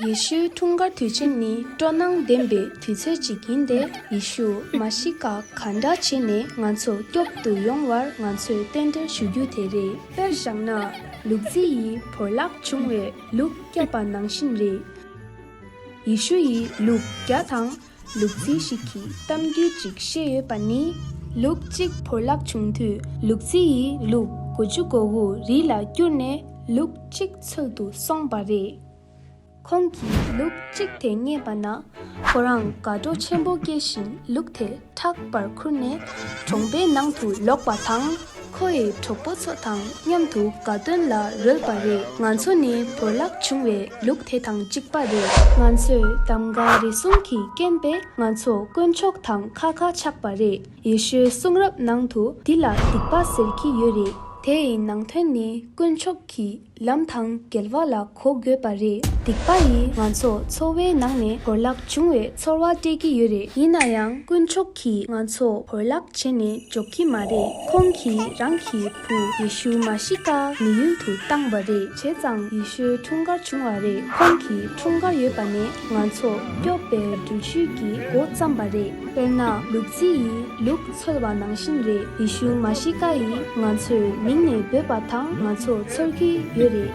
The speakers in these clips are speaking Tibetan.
ཡེ་ཤུའི་འཁྲུངས་སྐར་དུས་ཆེན་ནི་སྤྲོ་སྣང་ལྡན་པའི་དུས་ཚོད་ཅིག་ཡིན་ཏེ་ཡེ་ཤུ་མཱ་ཤི་ཀ་ག་འདྲ་བྱས་ནས་ང་ཚོ་སྐྱོབ་ཏུ་ཡོང་བར་ང་ཚོས་རྟེན་འབྲེལ་ཞུ་རྒྱུ་དེ་རེད། དཔེར་བཞག་ན་ལུག་རྫི་ཡིས་བོར་བརླག་བྱུང་བའི་ལུག་བསྐྱབས་པ་ནང་བཞིན་རེད། ཡེ་ཤུ་ཡིས་ལུག་བརྒྱ་དང་ལུག་རྫི་ཞིག་གིས་གཏམ་རྒྱུད་ཅིག་བཤད་ཡོད་པ་ནི། ལུག་གཅིག་བོར་བརླག་བྱུང་དུས་ལུག་རྫི་ཡིས་ལུག་དགུ་བཅུ་མགོ་བོ་རི་ལ་བསྐྱུར་ནས་ལུག་གཅིག་འཚོལ་དུ་སོང་བ་རེད། ཁོང་གིས་ལུག་གཅིག་དེ་རྙེད་པ་ན་ཁོ་རང་དགའ་སྤྲོ་ཆེན་པོ་སྐྱེས་ཤིང་ལུག་དེ་ཕྲག་པར་ཁུར་ནས་གྲོང་པའི་ནང་དུ་ལོག་པ་དང། ཁོ་ཡི་གྲོགས་པོ་ཚོ་དང་མཉམ་དུ་དགའ་སྟོན་ལ་རོལ་བ་རེད། ང་ཚོ་ནི་བོར་བརླག་བྱུང་བའི་ལུག་དེ་དང་གཅིག་པ་རེད། ང་ཚོས་གདམ་ག་རེ་གསུམ་གྱི་རྐྱེན་པས་ང་ཚོ་དཀོན་མཆོག་དང་ཁ་ཁ་ཆགས་པ་རེད། ཡེ་ཤུའི་གསུང་རབ་ནང་དུ་འདི་ལ་སྡིག་པ་ཟེར་གྱི་ཡོད་རེད། དེ་ཡི་ནང་དོན་ནི་དཀོན་མཆོག་གིས་ལམ་དང་འགལ་བ་ལ་གོ་དགོས་པ་རེད། སྡིག་པ་ཡིས་ང་ཚོ་འཚོ་བའི་ནང་ནས་བོར་བརླག་བྱུང་བའི་ཚོར་བ་སྤྲད་ཀྱི་ཡོད་རེད། ཡིན་ན་ཡང་དཀོན་མཆོག་གིས་ང་ཚོ་བོར་བརླག་བྱས་ནས་འཇོག་གི་མ་རེད། ཁོང་གིས་རང་གི་བུ་ཡེ་ཤུ་མཱ་ཤི་ཀ་མི་ཡུལ་དུ་བཏང་བ་རེད། བྱས་ཙང་ཡེ་ཤུའི་འཁྲུངས་སྐར་བྱུང་བ་རེད། ཁོང་གི་འཁྲུངས་སྐར་ཡོད་པ་ནས། ང་ཚོ་སྐྱོབ་པའི་འགྲུལ་བཞུད་ཀྱི་འགོ་བརྩམས་པ་རེད། དཔེར་ན་ལུག་རྫི་ཡིས་ལུག་འཚོལ་བ་ནང་བཞིན་རེད་ཡེ་ཤུ་མཱ་ཤི་ཀ་ཡིས་ང་ཚོའི་མིང་ནས་འབོད་པ་དང་ང་ཚོ་འཚོལ་གྱི་ཡོད་རེད།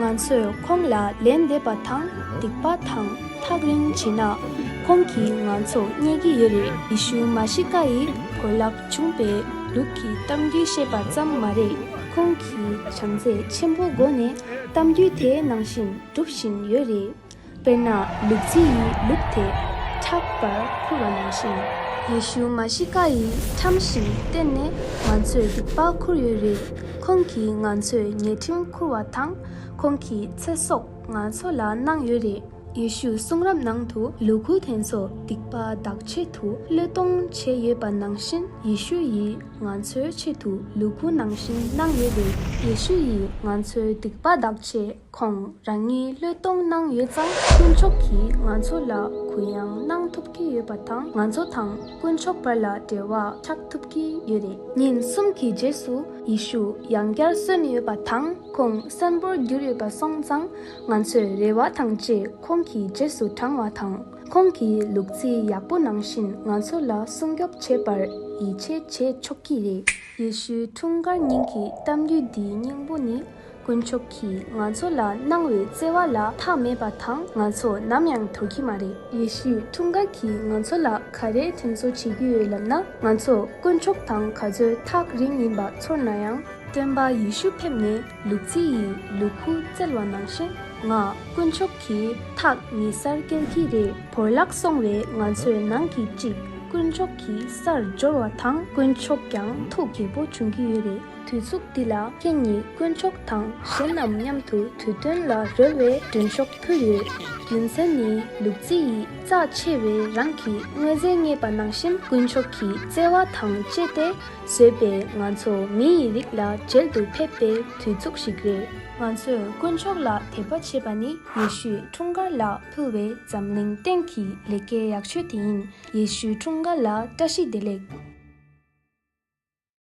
ང་ཚོས་ཁོང་ལ་ལན་འདེབས་པ་དང་སྡིག་པ་དང་ཐག་རིང་བྱེད་ན། ཁོང་གིས་ང་ཚོ་བརྙས་ཀྱི་ཡོད་རེད་ཡེ་ཤུ་མཱ་ཤི་ཀ་ཡིས་བོད་ལྭ་བྱུང་པས་ལུག་གི་གཏམ་རྒྱུད་བཤད་པ་ཙམ་མ་རེད། ཁོང་གིས་བྱམས་བརྩེ་ཆེན་པོའི་སྒོ་ནས་གཏམ་རྒྱུད་དེ་ནང་བཞིན་སྒྲུབ་བཞིན་ཡོད་རེད། དཔེར་ན་ལུག་རྫི་ཡིས་ལུག་དེ་ཕྲག་པར་ཁུར་བ་ནང་བཞིན། ཡེ་ཤུ་མཱ་ཤི་ཀ་ཡི་ཁྲམ་བཞིན་གཏེར་ནས་ང་ཚོས་སྡིག་པ་ཁུར་ཡོད་རེད། ཁོང་གིས་ང་ཚོས་ཉེས་ཁྲིམས་ཁུར་བ་དང་ཁོང་གི་ཚེ་སྲོག་ང་ཚོ་ལ་གནང་ཡོད་རེད། ཡེ་ཤུའི་གསུང་རབ་ནང་དུ་ལུ་གུ་དེ་ཚོ་སྡིག་པ་འདག་ཆེད་དུ་བློས་གཏོང་བྱས་ཡོད་པ་ནང་བཞིན་ཡེ་ཤུ་ཡིས་ང་ཚོའི་ཆེད་དུ་ལུ་གུ་ནང་བཞིན་གནང་ཡོད་རེད། ཡེ་ཤུ་ཡིས་ང་ཚོའི་སྡིག་པ་འདག་ཆེད་ཁོང་རང་ཉིད་བློས་གཏོང་གནང་ཡོད་ཙང་དཀོན་མཆོག་གིས་ང་ཚོ་ལ་གུ་ཡངས་གནང་ཐུབ་ཀྱི་ཡོད་པ་དང་ང་ཚོ་དང་དཀོན་མཆོག་བར་ལ་འབྲེལ་བ་ཆགས་ཐུབ་ཀྱི་ཡོད་རེད། ཉིན་གསུམ་གྱི་རྗེས་སུ་ཡེ་ཤུ་ཡང་བསྐྱར་གསོན་ཡོད་པ་དང་ཁོང་གསོན་པོར་གྱུར་ཡོད་པ་སོང་ཙང་ང་ཚོས་རེ་བ་དང་བཅས་ཁོང་གི་རྗེས་སུ་འབྲང་བ་དང་ཁོང་གིས་ལུག་རྫི་ཡག་པོ་ནང་བཞིན་ང་ཚོ་ལ་སྲུང་སྐྱོབ་བྱེད་པར་ཡིད་ཆེས་བྱེད་ཆོག་གི་རེད། ཡེ་ཤུའི་འཁྲུངས་སྐར་ཉིན་གྱི་གཏམ་རྒྱུད་འདིའི་སྙིང་པོ་ནི། དཀོན་མཆོག་གིས་ང་ཚོ་ལ་གནང་བའི་བརྩེ་བ་ལ་ཐག་མེད་པ་དང་ང་ཚོ་ནམ་ཡང་དོར་གྱི་མ་རེད། ཡེ་ཤུའི་འཁྲུངས་སྐར་གྱིས་ང་ཚོ་ལ་ག་རེ་དྲིན་གཟོ་བྱེད་ཀྱི་ཡོད་ལབ་ན། ང་ཚོ་དཀོན་མཆོག་དང་ག་ཚོད་ཐག་རིང་ཡིན་པ་ཚོར་ན་ཡང། སྟོན་པ་ཡེ་ཤུ་ཕེབས་ནས་ལུག་རྫི་ཡི་ལུག་ཁུག་བཙལ་བ་ནང་བཞིན་ང་དཀོན་མཆོག་གིས་ཐག་ཉེ་སར་བསྐྱལ་གྱི་རེད། བོར་བརླག་སོང་བའི་ང་ཚོའི་ནང་གི་གཅིག་དཀོན་མཆོག་གི་སར་འབྱོར་བ་དང་དཀོན་མཆོག་ཀྱང་ཐུགས་དགྱེས་པོ་བྱུང་གི་ཡོད་རེད། དུས་ཚུགས་འདི་ལ་ཁྱེད་ཉིད་དཀོན་མཆོག་དང་གཞན་རྣམས་མཉམ་དུ་དུས་སྟོན་ལ་རོལ་བའི་མགྲོན་ཤོག་ཕུལ་ཡོད། རྒྱུ་མཚན་ནི་ལུག་རྫི་ཡིས་རྩ་ཆེ་བའི་རང་གི་དངོས་རྫས་རྙེད་པ་ནང་བཞིན་དཀོན་མཆོག་གི་བརྩེ་བ་དང་བཅས་ཏེ་བཟོས་པའི་ང་ཚོ་མི་ཡི་རིགས་ལ་མཇལ་དུ་ཕེབས་པའི་དུས་ཚུགས་ཤིག་རེད། ང་ཚོས་དཀོན་མཆོག་ལ་དད་པ་བྱེད་པ་ནི་ཡེ་ཤུའི་འཁྲུངས་སྐར་ལ་ཕུལ་བའི་འཛམ་གླིང་སྟེང་གི་ལས་ཀའི་ཡག་ཆོས་དེ་ཡིན། ཡེ་ཤུའི་འཁྲུངས་སྐར་ལ་བཀྲ་ཤིས་བདེ་ལེགས།